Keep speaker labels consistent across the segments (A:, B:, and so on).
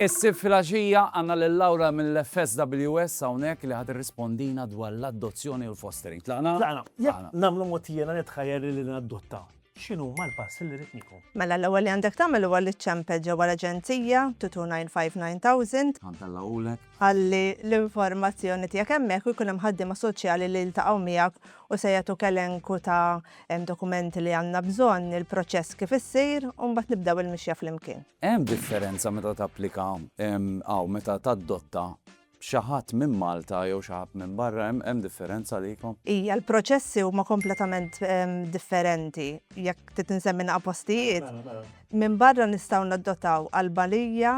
A: Is-Sibt filgħaxija għandna lil Laura mill-FSWS hawnhekk li ħa tirrispondina dwar l-adozzjoni u l-fostering. Tlaqna? Tlaqna. Jekk nagħmlu
B: mogħtija nitħajjel li nadotta. X'inhuma l-passi li rrid nieħu? Mela l-ewwel li għandek tagħmel
C: huwa li ċċempel ġewwa l-aġenzija 2295090. Tant Alla għolek.
A: Ħalli
C: l-informazzjoni tiegħek hemmhekk u jkun hemm ħaddiema soċjali li jiltaqgħu miegħek u se jagħtuk elenku ta' dokumenti li għandna bżonn, il-proċess kif issir u mbagħad nibdew il-mixja flimkien. Hemm differenza
A: meta tapplika hawn meta tadotta Xi ħadd minn Malta jew xi ħadd minn barra, hemm differenza għalikom? Ija, l-proċessi
C: huma kompletament differenti. Jekk trid insemmi naqa' postijiet. Mela, mela. Minn barra nistgħu naddotaw Albanija,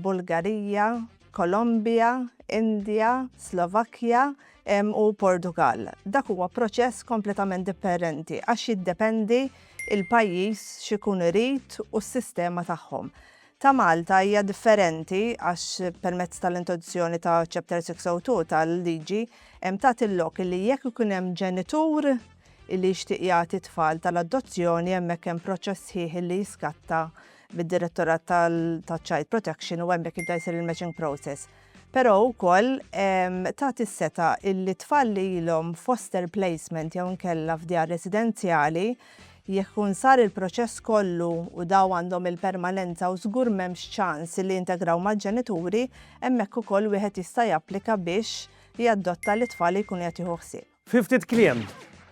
C: Bulgarija, Kolombja, Indja, Slovakkja u Portugall. Dak huwa proċess kompletament dipperenti għax jiddependi l-pajjiż x'ikun irid u s-sistema tagħhom. ta' Malta hija differenti għax permezz tal-introduzzjoni ta' Chapter 602 tal-liġi hemm tagħti l-lok li jekk ikun hemm ġenitur li jixtieq jagħti t-tfal tal-adozzjoni hemmhekk hemm proċess sħiħ li jiskatta mid-Direttorat tal-Child Protection u hemmhekk jibda jsir il-matching process. Però wkoll tagħti s-setgħa illi tfal li ilhom f'foster placement jew inkella f'djar residenzjali, jekk ikun sar il-proċess kollu u daw għandhom il-permanenza u żgur m'hemmx ċans illi jintegraw mal-ġenituri, hemmhekk ukoll wieħed jista' japplika biex jaddotta lit-tfal li jkun qiegħed jieħu ħsieb. Fi ftit kliem,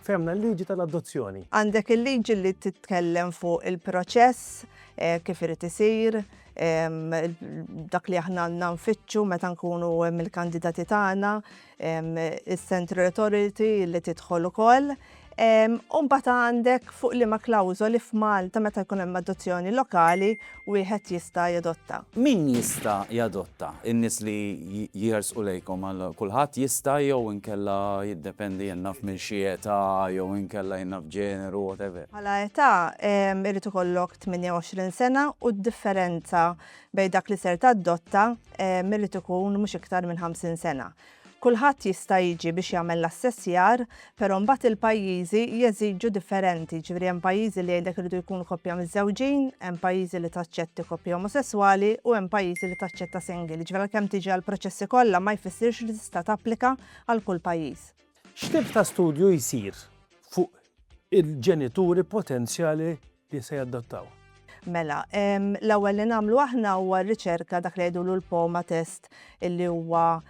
B: fehmna l-liġi tal-adozzjoni. Għandek il-liġi
C: li titkellem fuq il-proċess, kif irid isir, dak li aħna għandna nfittxu meta nkunu mill-kandidati tagħna, is-Central Authority li tidħol ukoll. U mbagħad għandek fuq liema klawżoli f'Malta meta jkun hemm adozzjoni lokali wieħed jista' jadotta? Min jista'
A: jadotta? In-nies li jersqu lejkom għal kulħadd jista' jew inkella jiddependi jien naf minn xi età jew inkella jien naf ġeneru whatever? Bħala età
C: irid ikollok 28 sena u d-differenza bejn dak li ser tadotta irid ikun mhux iktar minn 50 sena. Kulħadd jista' jiġi biex jagħmel l-assessjar, però mbagħad il-pajjiżi jeżiġu differenti, jiġifieri hemm pajjiżi li jgħidlek iridu jkunu koppja miżżewġin, hemm pajjiżi li taċċetti koppja omosesswali u hemm pajjiżi li taċċetta single, jiġifieri għalkemm tiġi għall-proċessi kollha ma jfissirx li tista' tapplika għal kull pajjiż. X'tip ta'
B: studju jsir fuq il-ġenituri potenzjali li se jadottaw. Mela,
C: l-ewwel li nagħmlu aħna huwa riċerka dak li jgħidulu l-poma test illi huwa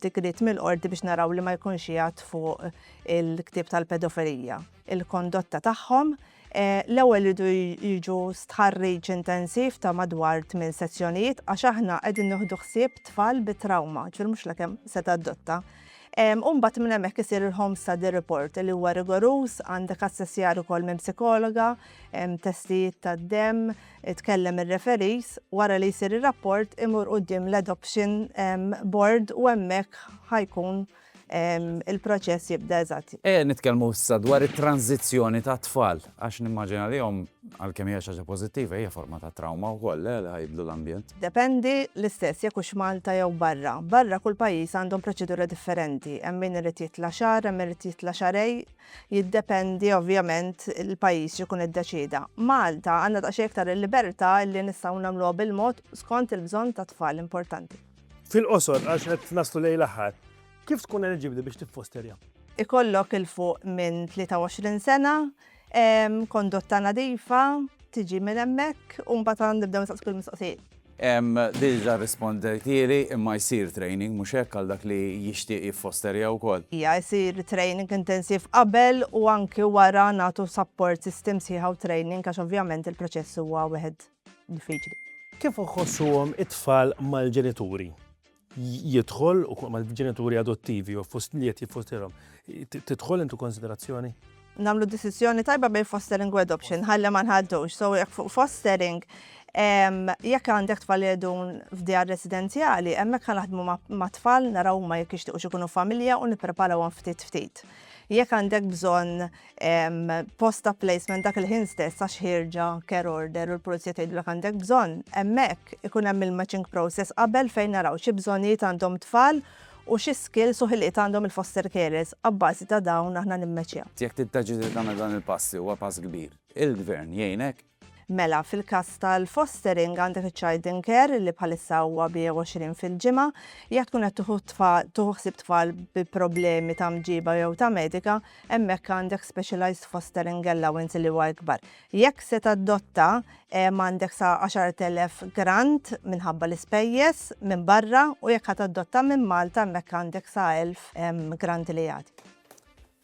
C: digrit mill-qorti biex naraw li ma jkunx jgħat fuq il-ktib tal-pedofilija. Il-kondotta tagħhom eh, l-ewwel ridu jiġu stħarriġ intensiv ta' madwar tmien sezzjonijiet għax aħna qegħdin nieħdu ħsieb tfal bi trauma, ġifier mhux lakemm se tadotta. U mbagħad minn hemmhekk isir il-home study report li huwa rigoruż, għandek assessjar ukoll minn psikologa, testijiet tad-demm, tkellem ir-referees, wara li jsir ir-rapport imur quddiem l-adoption board u hemmhekk ħa jkun il-proċess jibda eżatt. Ejja nitkellmu issa
A: dwar it-tranżizzjoni tat-tfal. Għax nimmaġina li omm, għalkemm hija xi ħaġa pożittiva, hija forma ta' trawma wkoll, le, li ħa jibdlu l-ambjent? Dependi, l-istess
C: jekk hux Malta jew barra. Barra kull pajjiż għandhom proċedura differenti, hemm min irid jitla' xahar, hemm min irid jitla' xahrej, jiddependi ovvjament il-pajjiż x'ikun iddeċieda. Malta għandna daqsxejn iktar il-libertà li nistgħu nagħmluha bil-mod skont il-bżonn tat-tfal importanti. Fil-qosor, għax
B: qed naslu lejn l-aħħar. Kif tkun eliġibbli biex tiffosterja? Ikollok il
C: fuq minn 23 sena, kondotta nadifa, tiġi minn hemmhekk u mbagħad għan nibdew nistaqsu kull mistoqsijiet. Diġa
A: rispondejtieli imma jsir training mhux hekk għal dak li jixtieq jiffosterja wkoll? Ija, jsir training
C: intensiv qabel u anki wara nagħtu sapport sistem sħiħa u training għax ovvjament il-proċess huwa wieħed diffiċli. Kif
B: iħossuhom it-tfal mal-ġenituri? jidħol ukoll mal-ġenituri adottivi jew fost li qed jiffosterhom, tidħol into konsiderazzjoni? Nagħmlu deċiżjoni
C: tajba bejn fostering u adoption, ħalli ma nħaddux. So jekk fuq fostering, jekk għandek tfal jedun f'djar residenzjali, hemmhekk ħa naħdmu ma' tfal naraw ma jekk jixtiequx ikunu familja u nippreparawhom ftit ftit. Jekk għandek bżonn post ta' placement dak il-ħin stess għax ħirġa care order u l-pulizija tgħidlek għandek bżonn, hemmhekk ikun hemm il-matching process qabel fejn naraw xi bżonnijiet għandhom tfal u xi skills u ħiliet għandhom il-foster carers. Abbażi ta' dawn aħna nimmeċjaw. Jekk tiddeċidi tagħmel
A: dan il-pass li huwa pass kbir, il-Gvern jgħinek Mela, fil-każ
C: tal-fostering għandek iċ-child in care li bħalissa huwa bi 20 fil-ġimgħa. Jekk tkun qed tuħu tfal, tuħu ħsieb tfal bi problemi ta' mġiba jew ta' medika, hemmhekk għandek specialized fostering allowance li huwa ikbar. Jekk se tadotta, għandek sa 10,000 grant minħabba l-ispejjeż minn barra u jekk ħa tadotta minn Malta hemmhekk għandek sa 1,000 grant li jagħti.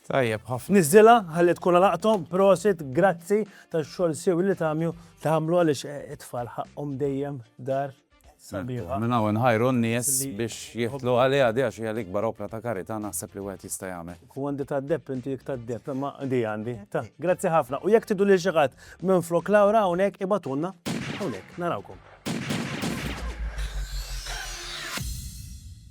C: Tajjeb
A: ħafna. Niżżilha ħalli tkun għal
B: għaqthom. Prosit, grazzi tax-xogħol siewi li tagħmlu tagħmlu għaliex it-tfal ħaqqhom dejjem dar sabiħa. Minn hawn inħajru
A: n-nies biex jidħlu għaliha di għax hija l-ikbar opra ta' karità naħseb li wieħed jista' jagħmel. Hu għandi tad-depp inti
B: dik tad-depp imma di għandi. Ta, grazzi ħafna. U jekk tridu lil xi ħadd minflok Laura hawnhekk ibagħtulna hawnhekk. Narawkom.